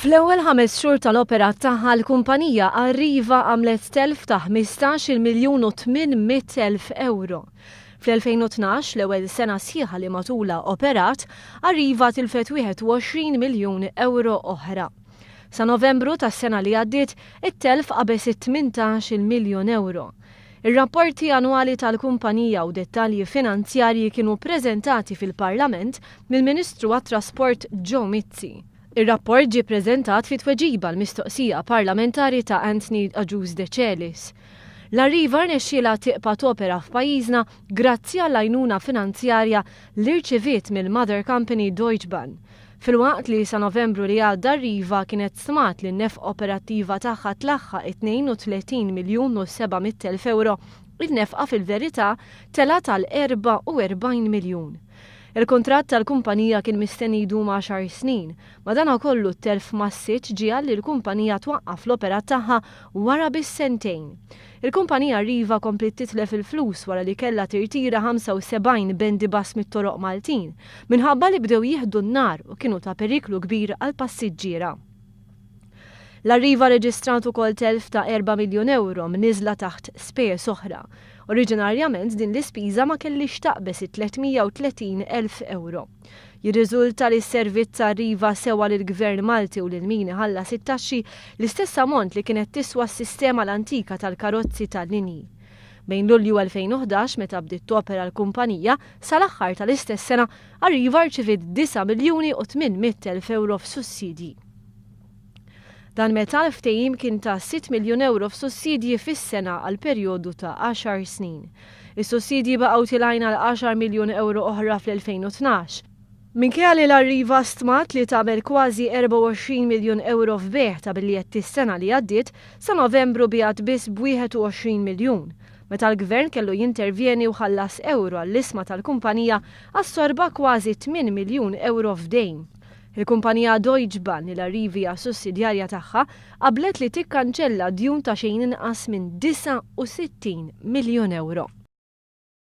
Fl-ewwel ħames xhur tal-operat tagħha l-kumpanija Arriva għamlet telf ta' 15-il miljun u 800 elf ewro. Fl-2012, l-ewwel sena sħiħa li matulha operat, Arriva tilfet 21 miljun ewro oħra. Sa Novembru tas-sena li għaddiet, it-telf qabeż it-18-il miljun ewro. Ir-rapporti annwali tal-kumpanija u dettalji finanzjarji kienu ppreżentati fil-Parlament mill-Ministru għat-Trasport Joe Mizzi. Ir-rapport ġie ppreżentat fi tweġiba għal mistoqsija parlamentari ta' Anthony Agius Decelis. L-Arriva rnexxielha tibqa' topera f'pajjiżna grazzi għall-għajnuna finanzjarja li rċiviet mill-mother company Deutsche Bahn, Filwaqt li sa Novembru li għadda Riva kienet stmat li n-nefqa operattiva tagħha tlaħħaq it-32 miljun u 700 elf ewro, in-nefqa fil-verità telgħet għal 44 miljun. Il-kuntratt tal-kumpanija kien mistenni jdum għaxar snin, madankollu t-telf massiċċ ġiegħel li l-kumpanija twaqqaf l-operat tagħha wara biss sentejn. Il-kumpanija Riva kompliet titlef il-flus wara li kellha tirtira 75 bendi bus mit-toroq Maltin minħabba li bdew jieħdu n-nar u kienu ta' periklu kbir għall-passiġġiera. L-Arriva rreġistrat ukoll telf ta' erba' miljun ewro mniżżla taħt spejjeż oħra. Oriġinarjament din l-ispiża ma kellhiex taqbeż it-330 elf ewro. Jirriżulta li s-servizz arriva sewwa lill-Gvern Malti u lil min iħallas it-taxxi l-istess ammont li kienet tiswa s-sistema l-antika tal-karozzi tal-linji. Bejn Lulju 2011, meta bdiet topera l-kumpanija, sa l-aħħar tal-istess sena, Arriva rċiviet disa' miljuni u tmien mitt elf ewro f'sussidji. Dan meta l-ftehim kien ta' sitt miljun ewro f'sussidji fis-sena għal perjodu ta' għaxar snin. Is-sussidji baqgħu tilgħin għal għaxar miljun ewro oħra fl-2012. Minkejja li l-Arriva stmat li tagħmel kważi 24 miljun ewro f'bejgħ ta' biljetti s-sena li għaddiet, sa Novembru biegħet biss b'21 miljun. Meta l-Gvern kellu jintervjeni u ħallas ewro għall-isma tal-kumpanija, assorba kważi tmien miljun ewro f'dejn. Il-kumpanija Deutsche Bahn, li l-arrivi hija sussidjarja tagħha, qablet li tikkanċella djun ta' xejn inqas minn 69 miljun ewro.